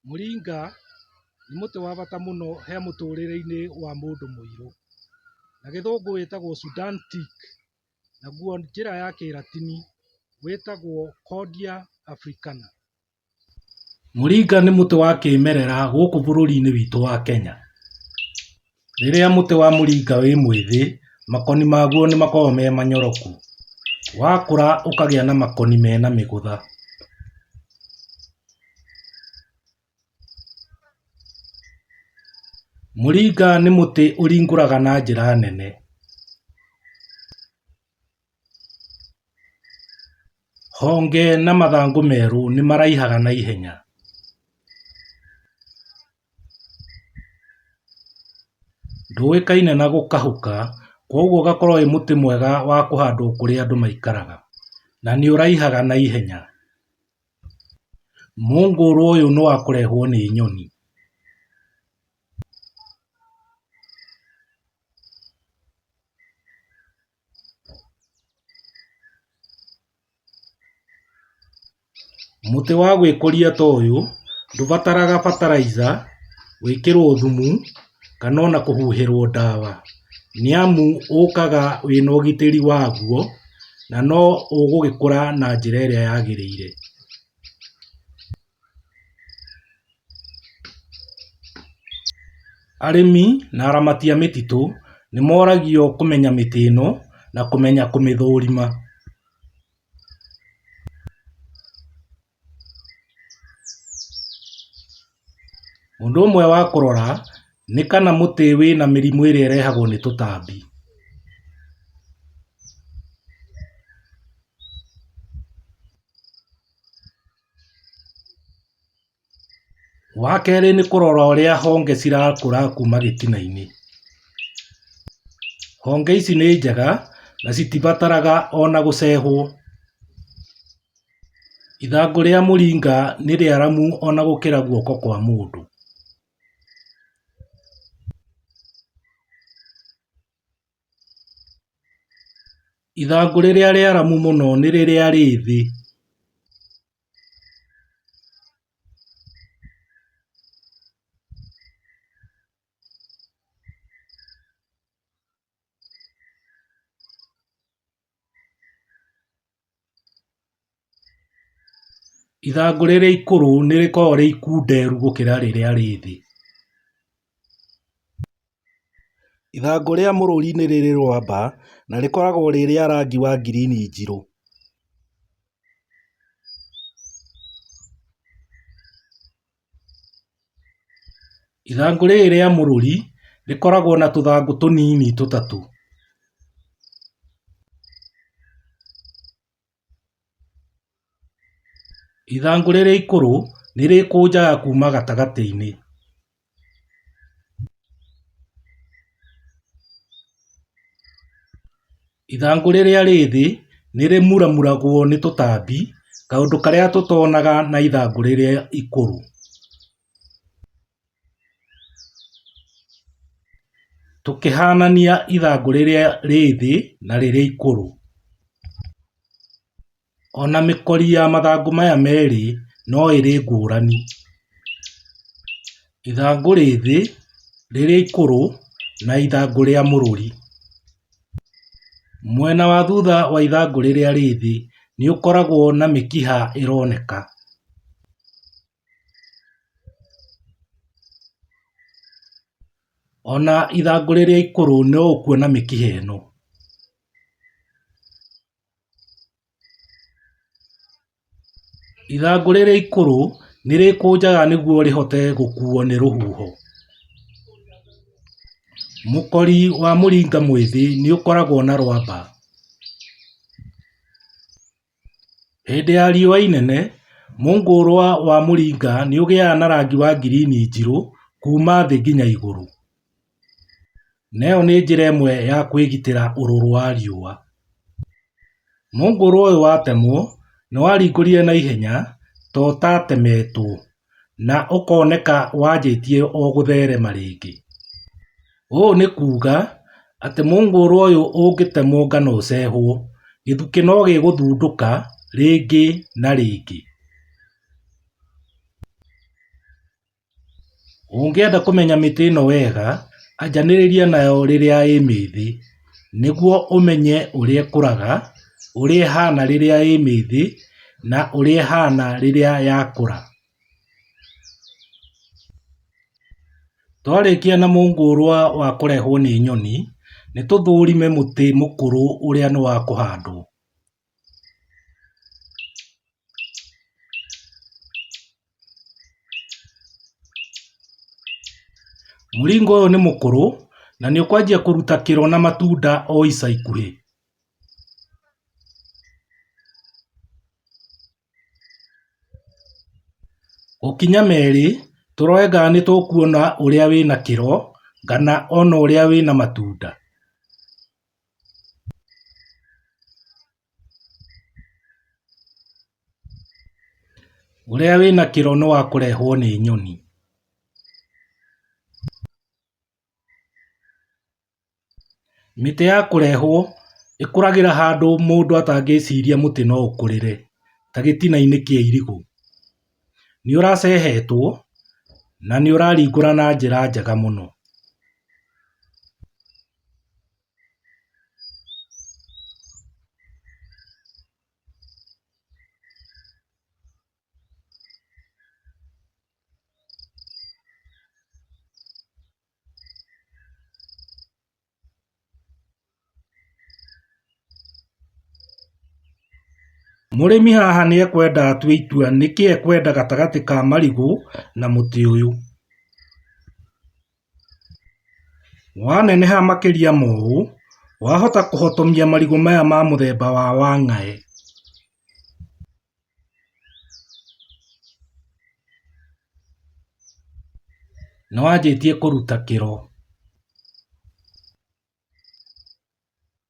Mũringa nĩ mũtĩ wa bata mũno he mũtũrĩre-inĩ wa mũndũ mũirũ. Na gĩthũngũ wĩtagwo Sudan teak, naguo njĩra ya kĩratini wĩtagwo Cordia Africana. Mũringa nĩ mũtĩ wa kĩmerera gũkũ bũrũri-inĩ witũ wa Kenya. Rĩrĩa mũtĩ wa mũringa wĩ mwĩthĩ, makoni maguo nĩ makoragwo me manyoroku. Wakũra ũkagĩa na makoni mena mĩgũtha. Mũringa nĩ mũtĩ ũringũraga na njĩra nene. Honge na mathangũ merũ nĩmaraihaga na ihenya. Ndũĩkaine na gũkahũka kwoguo ũgakorwo wĩ mũtĩ mwega wa kũhandwo kũrĩa andũ maikaraga na nĩ ũraihaga na ihenya. Mũngũrwa ũyũ nĩ wa kũrehwo nĩ nyoni. Mũtĩ wa gwĩkũria ta ũyũ ndũbataraga bataraitha gwĩkĩrwo thumu kana ona kũhuhĩrwo ndawa nĩ amu ũkaga wĩna ũgitĩri waguo na no ũgũgĩkũra na njĩra ĩrĩa yagĩrĩire. Arĩmi na aramati a mĩtitũ nĩ moragio kũmenya mĩtĩ ĩno na kũmenya kũmĩthũrima. Ũndũ ũmwe wa kũrora nĩ kana mũtĩ wĩna mĩrimũ ĩrĩa ĩrehagwo nĩ tũtambi. Wa kerĩ nĩ kũrora ũrĩa honge cirakũra kuma gĩtina-inĩ. Honge ici nĩ njega na citibataraga ona gũcehwo. Ithangũ rĩa mũringa nĩ rĩaramu ona gũkĩra guoko kwa mũndũ. Ithangũ rĩrĩa rĩaramu mũno nĩ rĩrĩa rĩ thĩ Ithangũ rĩrĩa ikũrũ nĩ rĩkoragwo rĩ ikunderu gũkĩra rĩrĩa rĩ thĩ. Ithangũ rĩa mũrũri nĩ rĩrĩ rwamba na rĩkoragwo rĩ rĩa rangi wa ngirini njirũ. Ithangũ rĩrĩ rĩa mũrũri rĩkoragwo na tũthangũ tũnini tũtatũ. Ithangũ rĩrĩ ikũrũ nĩ rĩkũnjaga kuma gatagatĩ-inĩ. Ithangũ rĩrĩa rĩ thĩ nĩ rĩmuramuragwo nĩ tũtambi, kaũndũ karĩa tũtonaga na ithangũ rĩrĩa ikũrũ. Tũkĩhanania ithangũ rĩrĩa rĩ thĩ na rĩrĩa ikũrũ. Ona mĩkori ya mathangũ maya merĩ no ĩrĩ ngũrani. Ithangũ rĩ thĩ, rĩrĩ ikũrũ na ithangũ rĩa mũrũri. Mwena wa thutha wa ithangũ rĩrĩa rĩ thĩ nĩ ũkoragwo na mĩkiha ĩroneka. Ona ithangũ rĩrĩa ikũrũ no ũkuona mĩkiha ĩno. Ithangũ rĩrĩ ikũrũ nĩ rĩkũnjaga nĩguo rĩhote gũkuo nĩ rũhuho. Mũkori wa mũringa mwĩthĩ nĩ ũkoragwo na rwamba. Hĩndĩ ya riũa inene, mũngũrwa wa mũringa nĩ ũgĩaga na rangi wa ngirini njirũ kuma thĩ nginya igũrũ. na ĩyo nĩ njĩra ĩmwe ya kwĩgitĩra ũrũrũ wa riũa. Mũngũrwa ũyũ watemwo nĩ waringũrire na ihenya ta ũtatemetwo na ũkoneka wanjĩtie o gũtherema rĩngĩ. Ũũ nĩ kuga atĩ mũngũrwa ũyũ ũngĩtemwo kana ũcehwo, gĩthukĩ no gĩgũthundũka rĩngĩ na rĩngĩ. Ũngĩenda kũmenya mĩtĩ ĩno wega, anjanĩrĩria nayo rĩrĩa ĩ mĩĩthĩ nĩguo ũmenye ũrĩa ĩkũraga, ũrĩa ĩhana rĩrĩa ĩ mĩĩthĩ na ũrĩa ĩhana rĩrĩa yakũra. Twarĩkia na mũngũrwa wa kũrehwo nĩ nyoni, nĩ tũthũrime mũtĩ mũkũrũ ũrĩa nĩ wa kũhandwo. Mũringa ũyũ nĩ mũkũrũ na nĩ ũkwanjia kũruta kĩro na matunda o ica ikuhĩ. Gũkinya merĩ tũrore kana nĩ tũkuona ũrĩa wĩna kĩro kana ona ũrĩa wĩna matunda. Ũrĩa wĩna kĩro nĩ wa kũrehwo nĩ nyoni. Mĩtĩ ya kũrehwo ĩkũragĩra handũ mũndũ atangĩciria mũtĩ no ũkũrĩre ta gĩtina-inĩ kĩa irigũ. Nĩ ũracehetwo na nĩ ũraringũra na njĩra njega mũno. Mũrĩmi haha nĩ ekwenda atue itua nĩkĩ ekwenda gatagatĩ ka marigũ na mũtĩ ũyũ Waneneha makĩria ma ũũ, wahota kũhotomia marigũ maya ma mũthemba wa wang'aĩ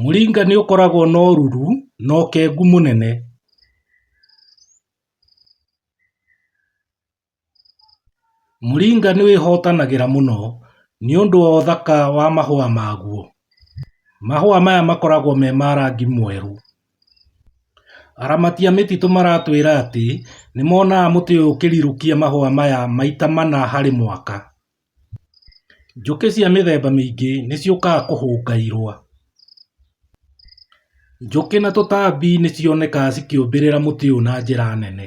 Mũringa nĩ ũkoragwo na ũruru na ũkengu mũnene. Moringa nĩ wĩhotanagĩra mũno nĩ ũndũ wa ũthaka wa mahũa maguo. Mahũa maya makoragwo me ma rangi mwerũ. Aramati a mĩtitũ maratwĩra atĩ nĩ monaga mũtĩ ũyũ ũkĩrirũkia mahũa maya maita mana harĩ mwaka. Njũkĩ cia mĩthemba mĩingĩ nĩ ciũkaga kũhũnga irũa. Njũkĩ na tũtambi nĩ cionekaga cikĩũmbĩrĩra mũtĩ ũyũ na njĩra nene.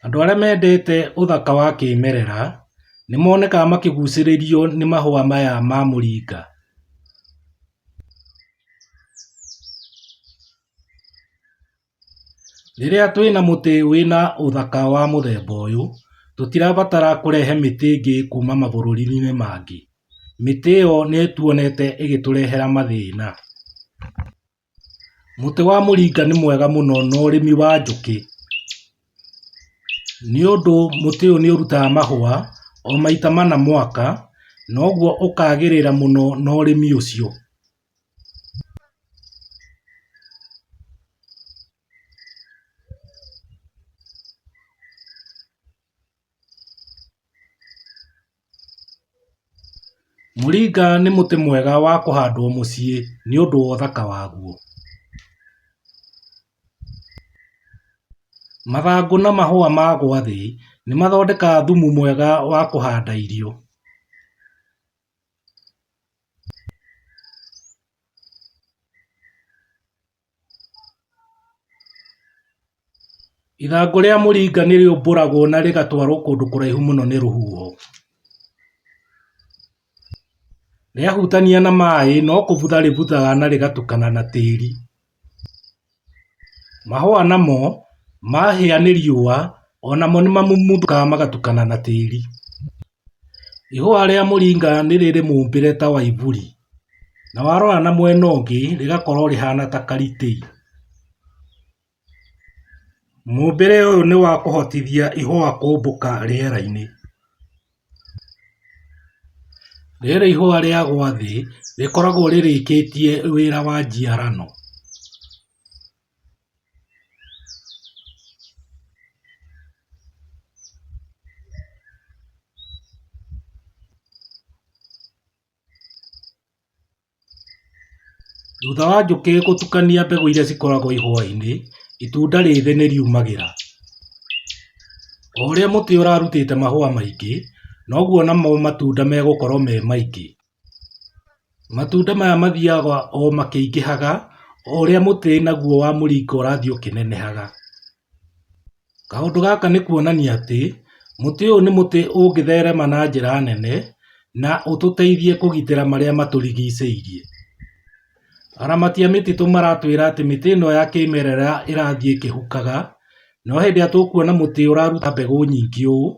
Andũ arĩa mendete ũthaka wa kĩmerera nĩ monekaga makĩgucĩrĩrio nĩ mahũa maya ma mũringa. Rĩrĩa twĩna mũtĩ wĩna ũthaka wa mũthemba ũyũ, tũtirabatara kũrehe mĩtĩ ĩngĩ kuma mabũrũri-inĩ mangĩ. Mĩtĩ ĩyo nĩ tuonete ĩgĩtũrehera mathĩna. Mũtĩ wa mũringa nĩ mwega mũno na ũrĩmi wa njũkĩ, nĩ ũndũ mũtĩ ũyũ nĩ ũrutaga mahũa o maita mana mwaka, na ũguo ũkagĩrĩra mũno na ũrĩmi ũcio. Moringa nĩ mũtĩ mwega wa kũhandwo mũciĩ nĩ ũndũ wa ũthaka waguo. Mathangũ na mahũa ma gwa thĩ nĩ mathondekaga thumu mwega wa kũhanda irio. Ithangũ rĩa mũringa nĩ rĩũmbũragwo na rĩgatwarũo kũndũ kũraihu mũno nĩ rũhuho. Rĩahutania na maĩ, no kũbutha rĩbuthaga na rĩgatukana na tĩri. Mahũa namo mahĩa nĩ riũa onamo nĩmamumuthũkaga magatukana na tĩri. Ihũa rĩa mũringa nĩ rĩrĩ mũmbĩre ta wa iburi na warora na mwena ũngĩ rĩgakorwo rĩhana ta karitĩi. Mũmbĩre ũyũ nĩ wa kũhotithia ihũa kũmbũka rĩera-inĩ. Rĩrĩ ihũa rĩa gwa thĩ rĩkoragwo rĩrĩkĩtie wĩra wa njiarano. Thutha wa njũkĩ gũtukania mbegũ iria cikoragwo ihũa-inĩ, itunda rĩthĩ nĩ riumagĩra. O ũrĩa mũtĩ ũrarutĩte mahũa maingĩ, noguo namo matunda megũkorwo me maingĩ. Matunda maya mathiaga o makĩingĩhaga o ũrĩa mũtĩ naguo wa mũringa ũrathiĩ ũkĩnenehaga. Kaũndũ gaka nĩ kuonania atĩ mũtĩ ũyũ nĩ mũtĩ ũngĩtherema na njĩra nene na ũtũteithie kũgitĩra marĩa matũrigicĩirie. Aramati a mĩtitũ maratwĩra atĩ mĩtĩ ĩno ya kĩmerera ĩrathiĩ ĩkĩhukaga, no hĩndĩ ĩrĩa tũkuona mũtĩ ũraruta mbegũ nyingĩ ũũ,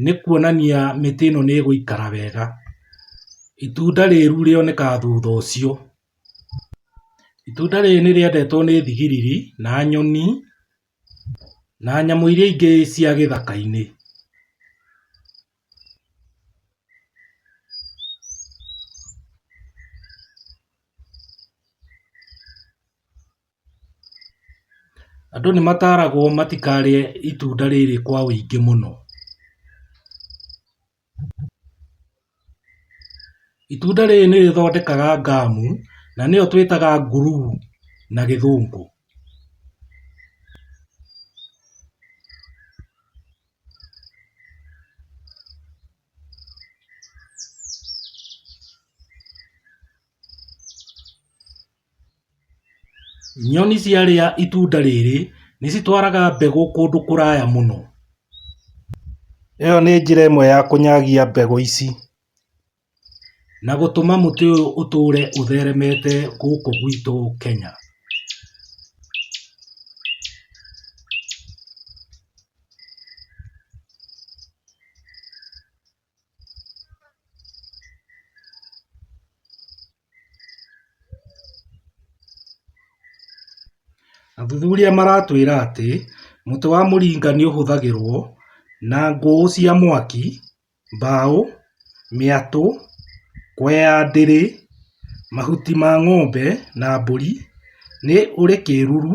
nĩ kuonania mĩtĩ ĩno nĩ ĩgũikara wega. Itunda rĩru rĩonekaga thutha ũcio. Itunda rĩrĩ nĩ rĩendetwo nĩ thigiriri na nyoni na nyamũ iria ingĩ cia gĩthaka-inĩ. Andũ nĩ mataragwo matikarĩe itunda rĩrĩ kwa ũingĩ mũno. Itunda rĩrĩ nĩ rĩthondekaga ngamu, na nĩyo twĩtaga nguruu na gĩthũngũ. Nyoni ciarĩa itunda rĩrĩ nĩ citwaraga mbegũ kũndũ kũraya mũno. ĩyo nĩ njĩra ĩmwe ya kũnyagia mbegũ ici na gũtũma mũtĩ ũyũ ũtũre ũtheremete gũkũ gwitũ Kenya. Athuthuria maratwĩra atĩ mũtĩ wa Moringa nĩ ũhũthagĩrũo na ngũ cia mwaki, mbaũ, mĩatũ, kũhe ya ndĩri, mahuti ma ng'ombe na mbũri. Nĩ ũrĩ kĩruru.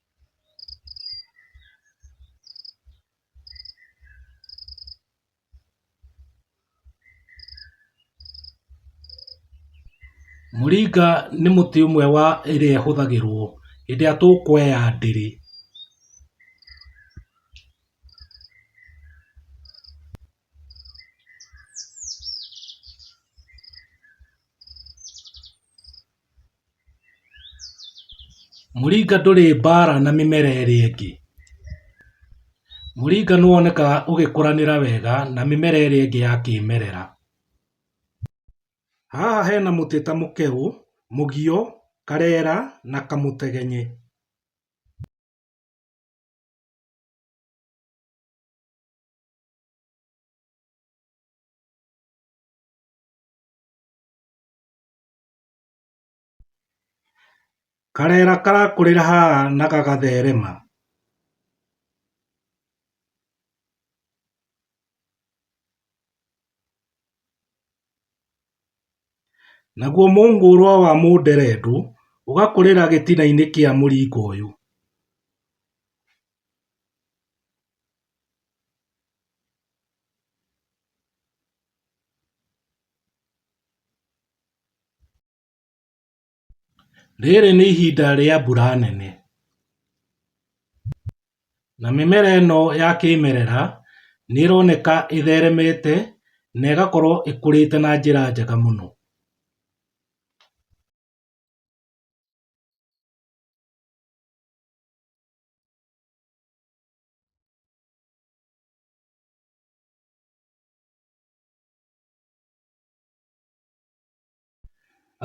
Mũringa nĩ mũtĩ ũmwe wa ĩrĩa ĩhũthagĩrwo hĩndĩ ĩrĩa tũkweya ndĩrĩ. Mũringa ndũrĩ mbara na mĩmera ĩrĩa ĩngĩ. Mũringa nĩ wonekaga ũgĩkũranĩra wega na mĩmera ĩrĩa ĩngĩ ya kĩmerera. Haha hena mũtĩ ta mũkegũ, mũgio, karera na kamũtegenye. Karera karakũrĩra haha na gagatherema. Naguo mũngũrwa wa mũnderendũ ũgakũrĩra gĩtinainĩ kĩa mũringa ũyũ. Rĩrĩ nĩ ihinda rĩa mbura nene na mĩmera ĩno ya kĩmerera nĩ ĩroneka ĩtheremete na ĩgakorwo ĩkũrĩte na njĩra njega mũno.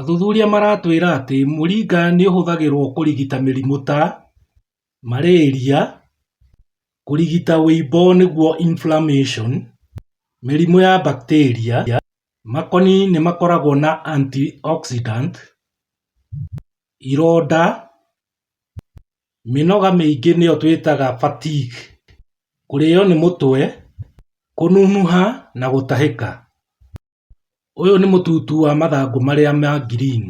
Athuthuria maratwĩra atĩ mũringa nĩ ũhũthagĩrũo kũrigita mĩrimũ ta malaria, kũrigita wĩimbo nĩguo inflammation, mĩrimũ ya bacteria, makoni nĩ makoragwo na antioxidant, ironda, Mĩnoga mĩingĩ nĩyo twĩtaga fatigue, kũrĩo nĩ mũtwe, kũnunuha na gũtahĩka. Ũyũ nĩ mũtutu wa mathangũ marĩa ma green.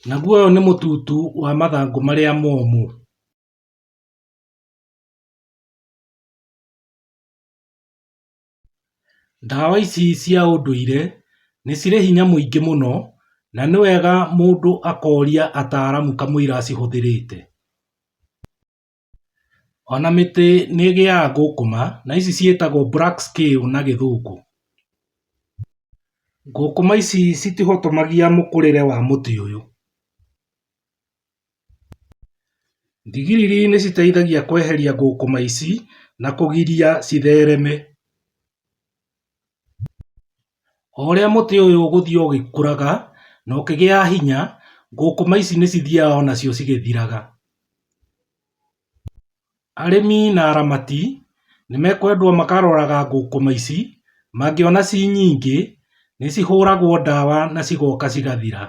Naguo ũyũ nĩ mũtutu wa mathangũ marĩa momũ. Ndawa ici cia ũndũire nĩ cirĩ hinya mũingĩ mũno, na nĩ wega mũndũ akoria ataramu kamũira acihũthĩrĩte. Ona mĩtĩ nĩ ĩgĩaga ngũkũma, na ici ciĩtagwo black scale na gĩthũngũ. Ngũkũma ici citihotomagia mũkũrĩre wa mũtĩ ũyũ. Thigiriri nĩciteithagia kweheria thũkũma ici na kũgiria cithereme. O ũrĩa mũtĩ ũyũ ũgũthiĩ ũgĩkũraga na ũkĩgĩaga hinya, thũkũma ici nĩcithiaga o nacio cigĩthiraga. Arĩmi na aramati nĩmekwendwo makaroraga thũkũma ici, mangĩona ci nyingĩ nĩcihũragwo ndawa na cigoka cigathira.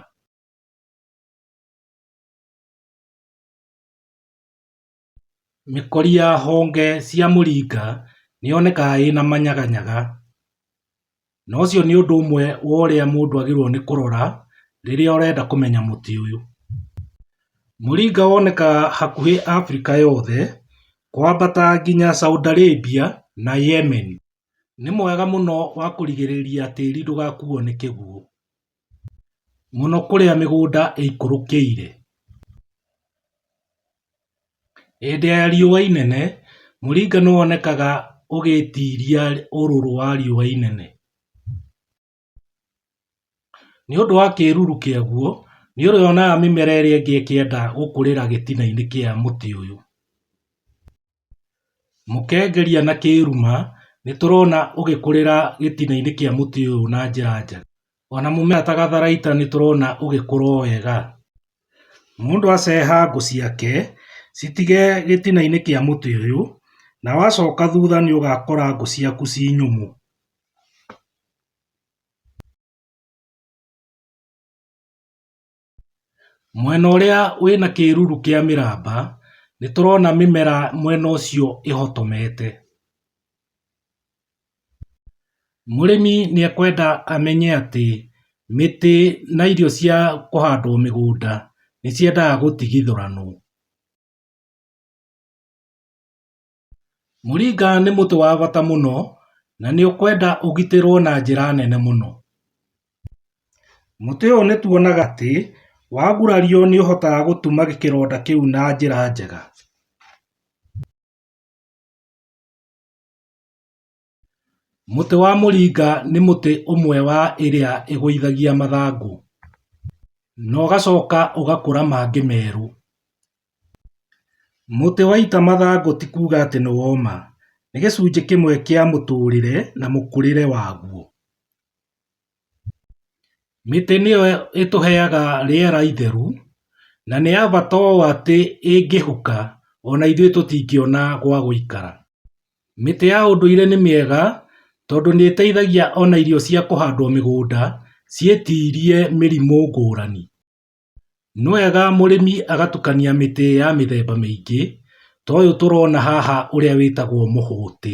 Mĩkori ya honge cia mũringa nĩ yonekaga ĩna manyaganyaga, na ũcio nĩ ũndũ ũmwe wa ũrĩa mũndũ agĩrĩirũo nĩ kũrora rĩrĩa ũrenda kũmenya mũtĩ ũyũ. Mũringa wonekaga hakuhĩ Afrika yothe kwambata nginya Saudi Arabia na Yemen. Nĩ mwega mũno wa kũrigĩrĩria tĩri ndũgakuo nĩ kĩguũ. mũno kũrĩa mĩgũnda ĩikũrũkĩire. Hĩndĩ ya riũa inene, mũringa nĩ wonekaga ũgĩtiria ũrũrũ wa riũa inene. Nĩ ũndũ wa kĩruru kĩaguo, nĩ ũrĩonaga mĩmera ĩrĩa ĩngĩ ĩkĩenda gũkũrĩra gĩtina-inĩ kĩa mũtĩ ũyũ. Mũkengeria na kĩĩruma nĩtũrona ũgĩkũrĩra gĩtina-inĩ kĩa mũtĩ ũyũ na njĩra njega. Ona mũmera ta gatharaita nĩtũrona ũgĩkũra o wega. Mũndũ aceha ngũ ciake citige gĩtina-inĩ kĩa mũtĩ ũyũ, na wacoka thutha nĩũgakora ngũ ciaku ci nyũmũ. Mwena ũrĩa wĩna kĩruru kĩa mĩramba, nĩ tũrona mĩmera mwena ũcio ĩhotomete. Mũrĩmi nĩ ekwenda amenye atĩ, mĩtĩ na irio cia kũhandwo mĩgũnda, nĩ ciendaga gũtigithũranwo. Moringa nĩ mũtĩ wa bata mũno na nĩ ũkwenda ũgitĩrũo na njĩra nene mũno. Mũtĩ ũyũ nĩ tuonaga atĩ wagurario nĩ ũhotaga gũtuma kĩronda kĩu na njĩra njega. Mũtĩ wa mũringa nĩ mũtĩ ũmwe wa ĩrĩa ĩgũithagia mathangũ na ũgacoka ũgakũra mangĩ merũ. Mũtĩ waita mathangũ ti kuga atĩ nĩ woma, nĩ gĩcunjĩ kĩmwe kĩa mũtũrĩre na mũkũrĩre waguo. Mĩtĩ nĩyo ĩtũheaga rĩera itheru na nĩ ya bata ũũ atĩ ĩngĩhuka ona ithuĩ tũtingĩona gwa gũikara. Mĩtĩ ya ũndũire nĩ mĩega tondũ nĩteithagia ona irio cia kũhandwo mĩgũnda ciĩtirie mĩrimũ ngũrani. Nĩ wega mũrĩmi agatukania mĩtĩ ya mĩthemba mĩingĩ ta ũyũ tũrona haha ũrĩa wĩtagwo mũhũtĩ.